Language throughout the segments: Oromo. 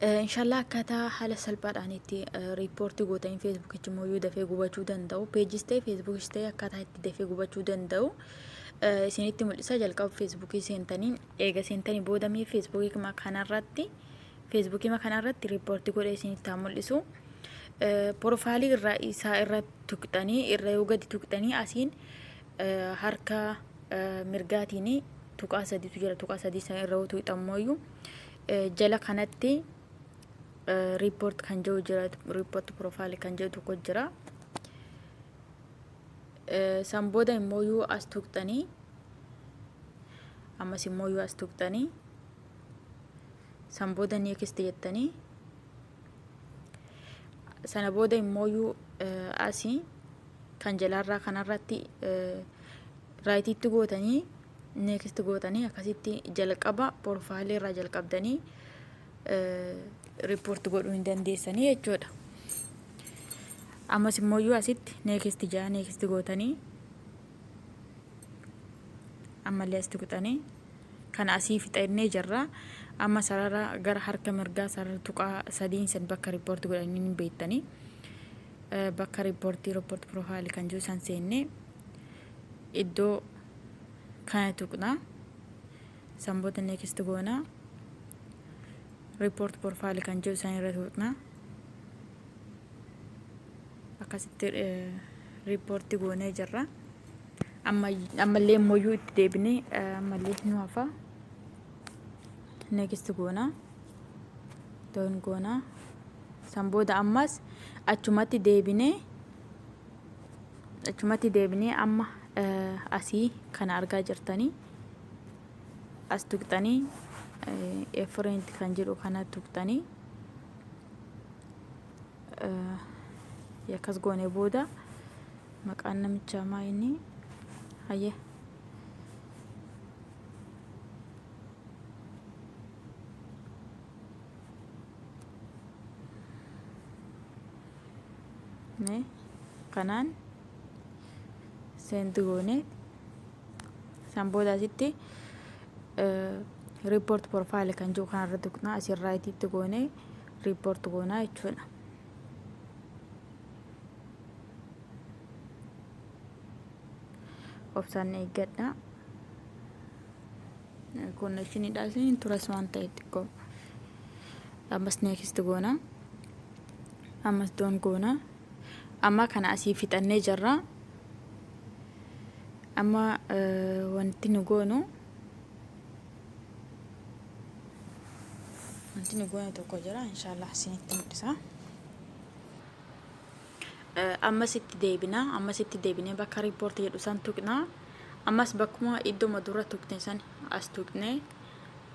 Inshaallah akkaataa haala salphaadhaan itti riippoortii gootanii feesbuukichi immoo yoo dafee gubachuu danda'u peejis ta'e feesbuukis ta'e akkaataa itti dafee gubachuu danda'u isinitti mul'isa jalqaba feesbuukii seentanii eega seentanii booda mee feesbuukii kanarratti feesbuukii kanarratti riippoortii godhee isinitti haa mul'isu. Porofaalii irraa isaa irra tuqxanii irra yoo gadi tuqxanii asiin harka mirgaatiin tuqaa sadiitu jira tuqaa sadii sana irra yoo tuqxan mooyyuu. jala kanatti report kan jiru jira report profile kan jiru tokko jira san booda immoo yoo as tuqxanii ammas immoo yoo as tuqxanii san booda next jettanii sana booda immoo yoo asii kan jalaarraa kanarratti Right itti gootanii next gootanii akkasitti jalqaba profile irraa jalqabdanii report godhuu hin dandeessanii jechuudha. Ammas immoo asitti next jaa next gootanii ammallee asitti kuxanii kana asii fixannee jirra. Amma sarara gara harka mirgaa sarara tuqaa sadiin san bakka report godhanii hin beektanii bakka report report profile kan jiru san seennee. iddoo kana tuqna san booda next goona report profile kan jiru san irra tuqna akkasitti report goonee jirra ammallee immoo itti deebinee ammallee nu hafa next goona doon goona san booda ammas achumatti deebinee Achumatti deebinee amma asii kana argaa jirtanii as tuqxanii efreent kan jedhu kana tuqxanii akkas goone booda maqaan namichaa maa inni hayyee Mee kanaan seenti goone san booda asitti riippoort porfaayil kan jiru kanarra tuqnaa asirraa itiitti goone riippoort goonaa jechuudha. Obsaan eeggadhaa. Koonnekshiniidhaa isin hin turas waan ta'e xiqqoo. Ammas neekist goona. Ammas doon goona. Amma kana asii fixannee jirra. Amma wanti nu goonu wanti nu goonu tokko jira. Inshaallah isinitti mul'isa. Ammas itti deebina. Ammas itti deebinee bakka report jedhu san tuqna. Ammas bakkuma iddoma dura tuqne san as tuqne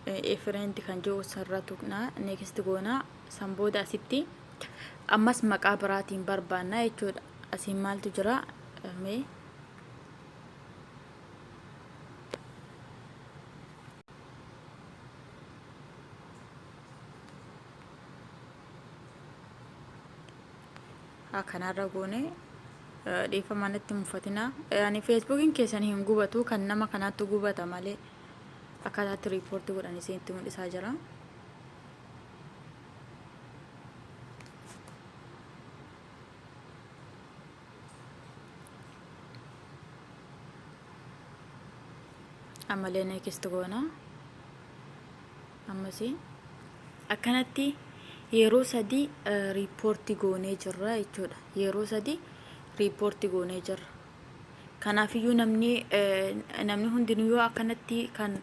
efireendi kan jiru sanirra tuqna. Next goona san booda asitti ammas maqaa biraatiin barbaanna jechuudha. Asiin maaltu jira? Mee kanarra goone dhiifama natti mufatina ani feesbuukiin keessan hin gubatu kan nama kanaattu gubata malee akkaataatti riipoortii godhan isinitti mul'isaa jira. ammalee neekist goona ammasii akkanatti yeroo sadii riippoortii goonee jirra jechuudha yeroo sadii riippoortii goonee jirra kanaafiyyuu namni namni hundinuu yoo akkanatti kan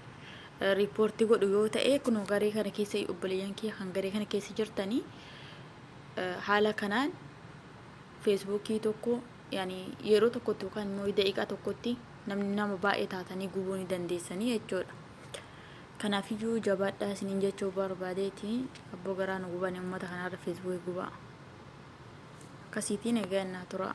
riippoortii godhu yoo ta'e kunoo garee kana keessa obboleeyyan kiyya kan garee kana keessa jirtanii haala kanaan feesbuukii tokko yani yeroo tokkotti yookaan immoo daqiiqaa tokkotti namni nama baay'ee taatanii gubuu ni dandeessanii jechuudha. Kanaafiyyuu jabaadhaa isiniin jechuu barbaadeeti abboo garaa nu gubanii uummata kanarra feesbuukii gubaa. Akkasiitiin egaa innaa turaa.